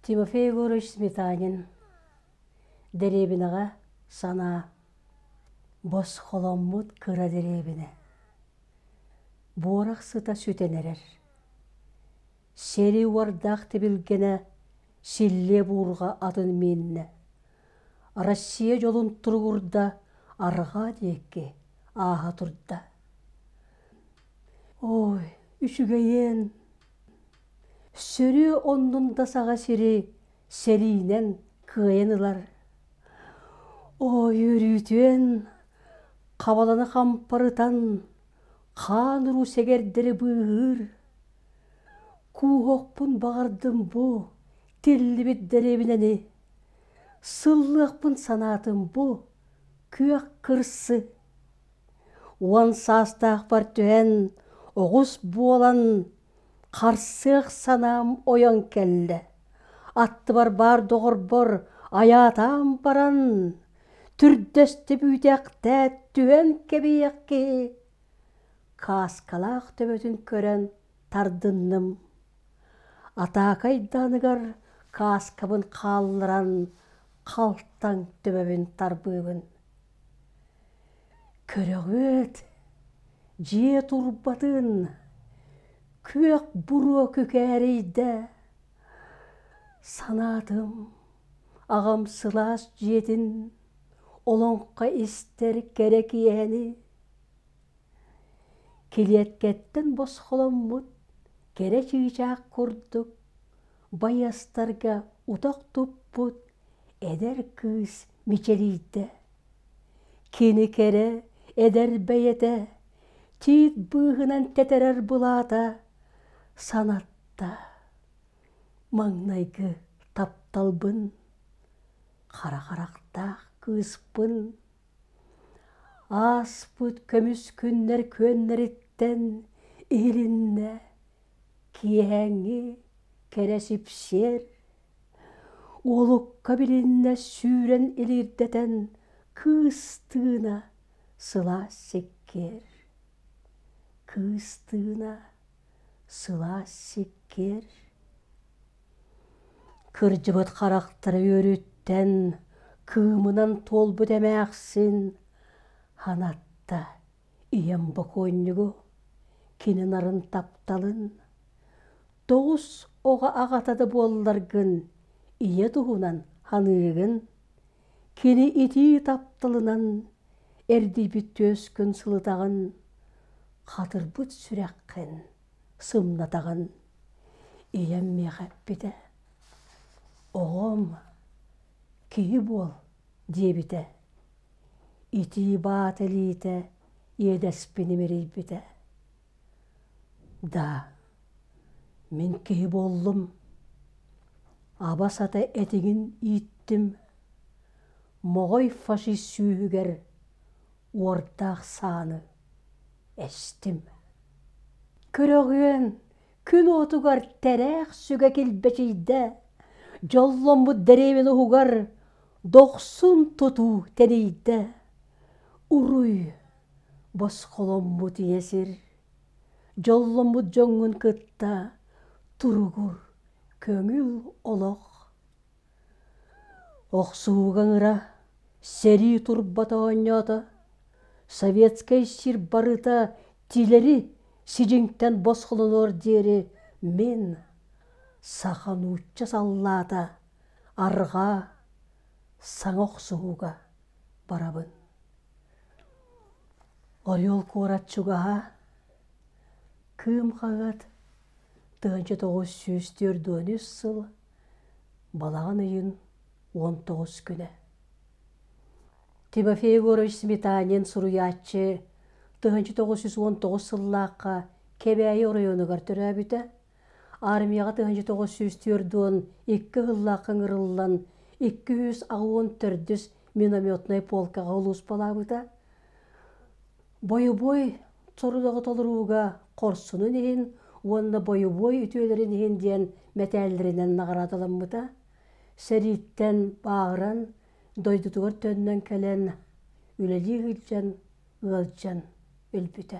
Тимофей Егорович Сметанин дэриэбинэҕэ санаа бос холоммут кыра дэриэбинэ буорах сыта сүтэн эрэр Сэрии уордаах тибилгэнэ силлиэ буурҕа атын миэннэ. Россия дьолун туругурда, арҕаа диэки ааһа турда. Ой, үчүгэйиэн. Сөрүө оннун да саҕа сири сэриинэн кыайан ылар. Ой, өрүүтүөн хабаланы хампарытан хаан уруу сэгэрдэри быыһыыр. кууһуохпун баҕардым бу тиллибит дэриэбинэни сыллыахпын санаатым бу күөх кырсы уон саастаахпар түһэн оҕус буолан харсыах санаам ойон кэллэ аттыбар баар доҕорбор айаатаан баран түрдэстэ бүүтэхтээт түһэн кэбиһиэх киһи кааскалаах төбөтүн көрөн тардынным атака айдааныгар кааскабын хаалларан халтаҥ төбөбүн тарбыыбын көрөҕүт дьиэ турбатын күөх буруо күкээрэйдэ санаатым аҕам сылаас дьиэтин олоҥхо истэр кэрэ киэһэни килиэткэттэн босхоломмут кэрэ чыычаах курдук байыастарга утах туппут эдэр кыыс мичилийдэ кини кэрэ эдэр бэйэтэ тиит быыһынан тэтэрэр былаата санатта маҥнайгы тапталбын Хара харахтаах кыыспын ааспыт көмүс күннэр күөннэриттэн иһилиннэ киэһээҥҥи кэрэ сипсиэр уолукка билиннэ сүүрэн илиирдэтэн кыыс тыына сылаас сиккиэр кыыс тыына сылаас сиккиэр Кырдьыбыт харахтара үөрүттэн кыымынан туолбут эмээхсин ханатта ийэм бокуонньугу кини нарын тапталын тоҕус оҕо аҕата да буолларгын ийэ туһунан саныыгын кини итии тапталынан эрдийбит түөскүн сылытаҕын хатырбыт сүрэххин сымнатаҕын ийэм миэхэ эппитэ оҕом киһи буол диэбитэ итии баат илиитэ иэдэспин имэрийбитэ да мин киһи буоллум аба сата этиҥин ииттим моҕой фашист сүүһүгэр уордаах сааны Эстим. Көрөҕүөн күн уотугар тэлээх сүгэ килбэчийдэ, дьолломмут дэриэбинэ уһугар дохсун тутуу тэнийдэ. Уруй, босхоломмут ийэ сир, дьолломмут дьоҥҥун кытта туругур, көҥүл олох. Охсуһууга ыҥыра, сэрии турбата оонньоото, Советскай сир барыта тилэри сидьиҥтэн босхолонуор диэри мин саха нуучча саллаата арҕаа саҥа охсуһууга барабын. Орел куорат чугаһа, Кыым хаҥат, тыһыынча тоҕус сүүс түөрт уон үс сыл Балаҕан ыйын уон тоҕус күнэ. Тимофей Егорович Сметанин суруйааччы тыһыынча тоҕус жүз уон тоҕус сыллаахха Кэбээйи оройуонугар төрөөбүтэ, армияҕа тыһыынча тоҕус жүз түөрт уон икки сыллаахха ыҥырыллан икки жүз аҕыс уон төрдүс минометнай полкаҕа улууспалаабыта. Бойобуой сорудоҕу толорууга хорсунун иһин уонна бойобуой үтүөлэрин иһин диэн мэтээллэринэн наҕараадаламмыта, сэрииттэн бааҕыран, дойдутугар төннөн кэлэн, үлэлии сылдьан, ыалдьан өлбүтэ.